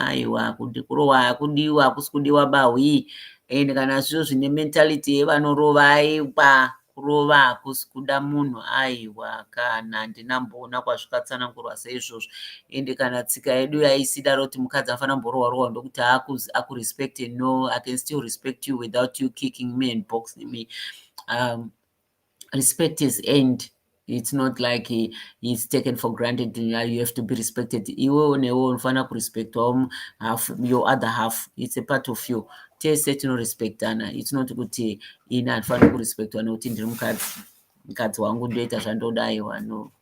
aiwa kuti kurohwa hakudiwa hakusi kudiwa bahwi and kana zviro zvine mentality yevanorova aiwa kurova hakusi kuda munhu aiwa kana handina mboona kwazvikatsanangurwa seizvozvo ende kana tsika yedu yaisidaro kuti mukadzi afanira mborohwa rohwa ndokuti akurespect no i can still respect you without you kicking me and box me um, respect is end it's not like he, he's taken for granted you have to be respected iwe unewo unofanira kurespectwawo half your other half it's a part of you tese tinorespectana it's not kuti ini handifaniri kurespectwa nekuti ndiri mukadzi mukadzi wangu ndoita zvandoda iwa no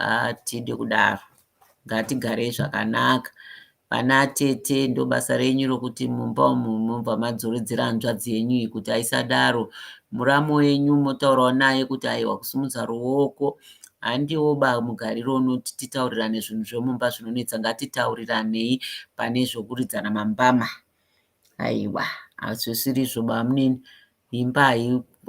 hatidi kudaro ngatigarei zvakanaka vana atete ndobasa renyu rokuti mumba umu mobva madzoredzera hanzvadzi yenyu iyi kuti aisadaro muramu wenyu motaurawo naye kuti aiwa kusimudza ruoko handiwo ba mugariro unoti titaurirane zvinhu zvemumba zvinonetsa ngatitauriranei pane zvokuridzana mambama aiwa hazvisirizvo bamunini Imba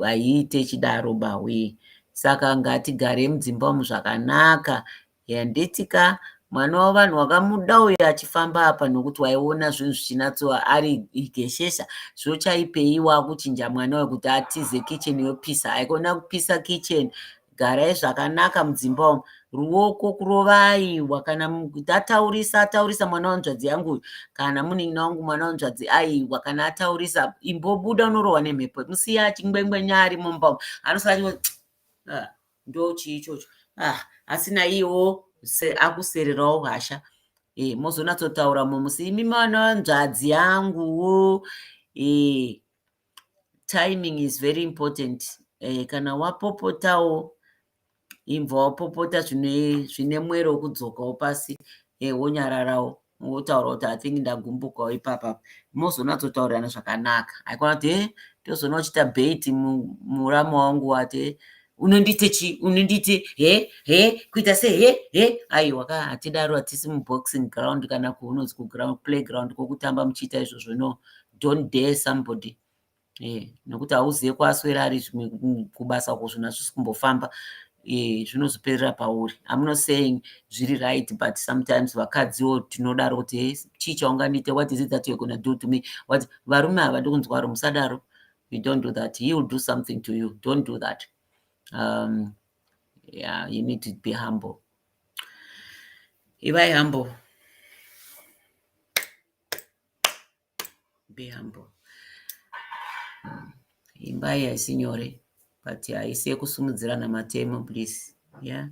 haiite ichidaro bawee saka ngatigare mudzimba umu zvakanaka handiti ka mwana wevanhu wakamuda uyo achifamba apa nokuti waiona zvinhu zvichinatso ari igeshesha zvochaipei wakuchinja mwana uyo kuti atize kitchen yopisa haikona kupisa kitchen garai zvakanaka mudzimba umu ruoko kurovaiwa kana ataurisa ataurisa mwana wanzvadzi yangu uyu kana munin'ina wangu mwana wanzvadzi aiwa kana ataurisa imbobuda unorohwa nemhepo musiya achingwengwenya ari mumba umu anosati ah, ndo chii ichocho ah, asina iwo akusererawo hasha e, eh, mozonatsotaura mumusi imi mwana wanzvadzi yanguwo e, eh, timing is very important eh, kana wapopotawo imbva wapopota zvine mwero wokudzokawo pasi eh, wonyararawo wotaura kuti i think ndagumbukawo ipapa mozonatotaurirana zvakanaka aikona kuti e tozona uchiita bait murama wangu wati e unondiite chi unondiite he he kuita se he he aiwa ka hatidaro hatisi muboxing ground kana kuunonzi kuground playground kwokutamba muchiita izvozvo no don't dare somebody eh, nekuti hauzive kwaswera ari zvimwe mm, kubasa uko zvinhu hazvisi kumbofamba eh, zvinozoperera pauri amno saying zviri right but sometimes vakadziwo tinodaro kuti hey, eh, chii chaungandiite what is it that you're gonna do to me what varume hava ndikunzwaro musadaro you don't do that he will do something to you don't do that um, yeah, you need to be humble ivai humble be humble imba iyi haisi nyore but haisi yekusimudzirana matemo please yeah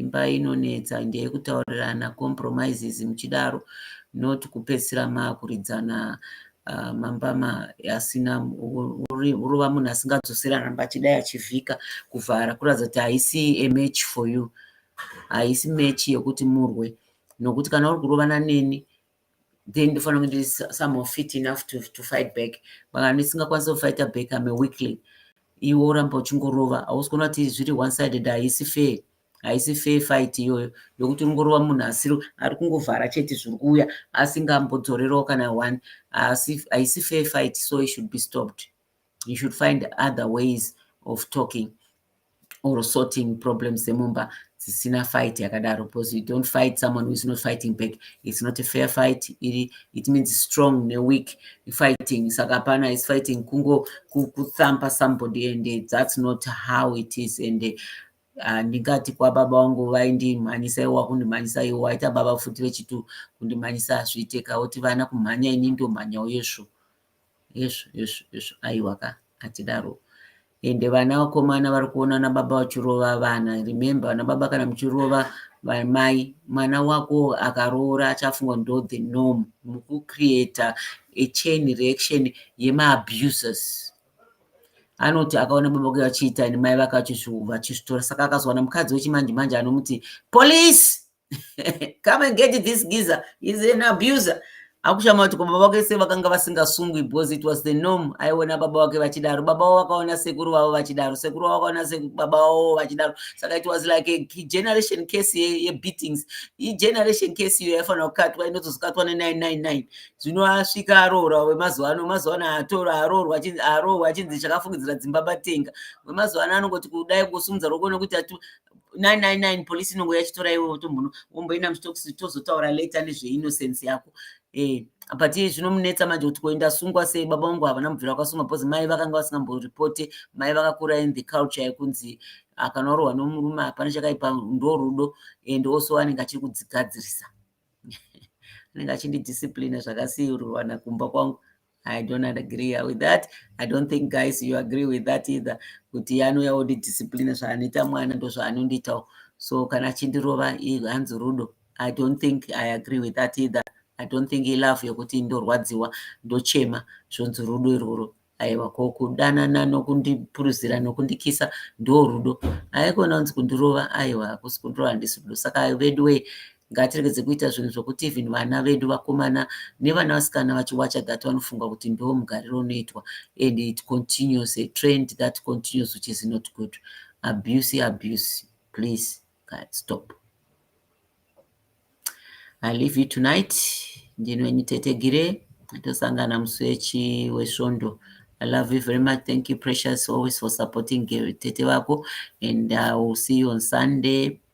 imba inonetsa ndeyekutaurirana compromises muchidaro not kupedzisira makuridzana uh, mambama asina urova munhu asingadzosera ramba achidai achivhika kuvhara kuratidza kuti haisi a match for you haisi match yekuti murwe nokuti kana uri kurovana neni then ndofanira kunge ndiri somehow fit enough to, to fight back maka ndisingakwanisa kufighta back ame weekly iwe oramba uchingorova hausi kuona kuti zviri one sided haisi fair haisi fair fight iyoyo yokuti uri ngorova munhu asiri ari kungovhara chete zviri kuuya asingambodzorerawo kana one haisi fair fight so it should be stopped he should find other ways of talking or sorting problems dzemumba dzisina fight yakadaro because you don't fight someone who is not fighting back it's not a fair fight iri it means strong neweak fighting saka hapana is fighting kungo kuthumpa somebody and that's not how it is and Ah, ndingati kwababa wangu vaindimhanyisa iwo wakundimhanyisa iwo waita baba futi vechitu kundimhanyisa hazviite kauti vana kumhanya ini ndomhanya uyezvo Hezvo hezvo hezvo aiwa ka hatidaro ende vana vakomana vari kuona ana baba vachirova vana remember vana baba kana muchirova vamai mwana wako akaroora achafunga ndo the norm mukucreata a chain reaction yemaabusers anoti akaona baba vake vachiita nemai vake vachizvitora saka akazowana mukadzi wechimanje manje anomuti police come and get this giza is an abuser akushama kuti baba vake se vakanga vasingasungwi because it was the norm aiona baba vake vachidaro baba vavo vakaona sekuru vavo vachidaro sekuru vavo vakaona baba vavo vachidaro saka it was like a generation case yebeatings igeneration case iyo yaifanira kukatwa inotozokatwa ne999 zvino asvika aroora wemazuva ano mazuva ano atora aroorwa aroorwa achinzi chakafungidzira dzimba batenga wemazuva ano anongoti kudai kusumudza roko nekuti 999 police inongo yachitora iwe wotombono womboenda muchitokusi tozotaura later nezveinnocence yako eh but zvinomunetsa manje kuti koenda sungwa sei baba vangu havana mubvira kwasungwa because mai vakanga vasingamborepote mai vakakura in the culture yekunzi kana warohwa nomurume hapana chakaipa ndo rudo and also anenge achiri kudzigadzirisa anenge achindidisciplina zvakasiirwana kumba kwangu I don't agree with that. I don't think guys you agree with that either. Kuti anouya odi discipline zvaanoita mwana ndozvaanondiitawo. So kana achindirova hanzi rudo. I don't think I agree with that either. I don't think he love yokuti ndorwadziwa ndochema zvonzi rudo iroro. Aiwa ko kudanana nokundipuruzira nokundikisa ndo rudo. Haikona kunzi kundirova aiwa hakusi kundirova handisi rudo. Saka veduwee ngatiregedze kuita zvinhu zvokuti even vana vedu vakomana nevana vasikana vachiwacha that vanofunga kuti ndo mugariro unoitwa and it continues a trend that continues which is not good abuse abuse please guys stop i leave you tonight ndino wenyu tete gire tosangana musi wechi wesvondo I love you very much. Thank you, Precious, always for supporting Tete Vako. And I uh, will see you on Sunday.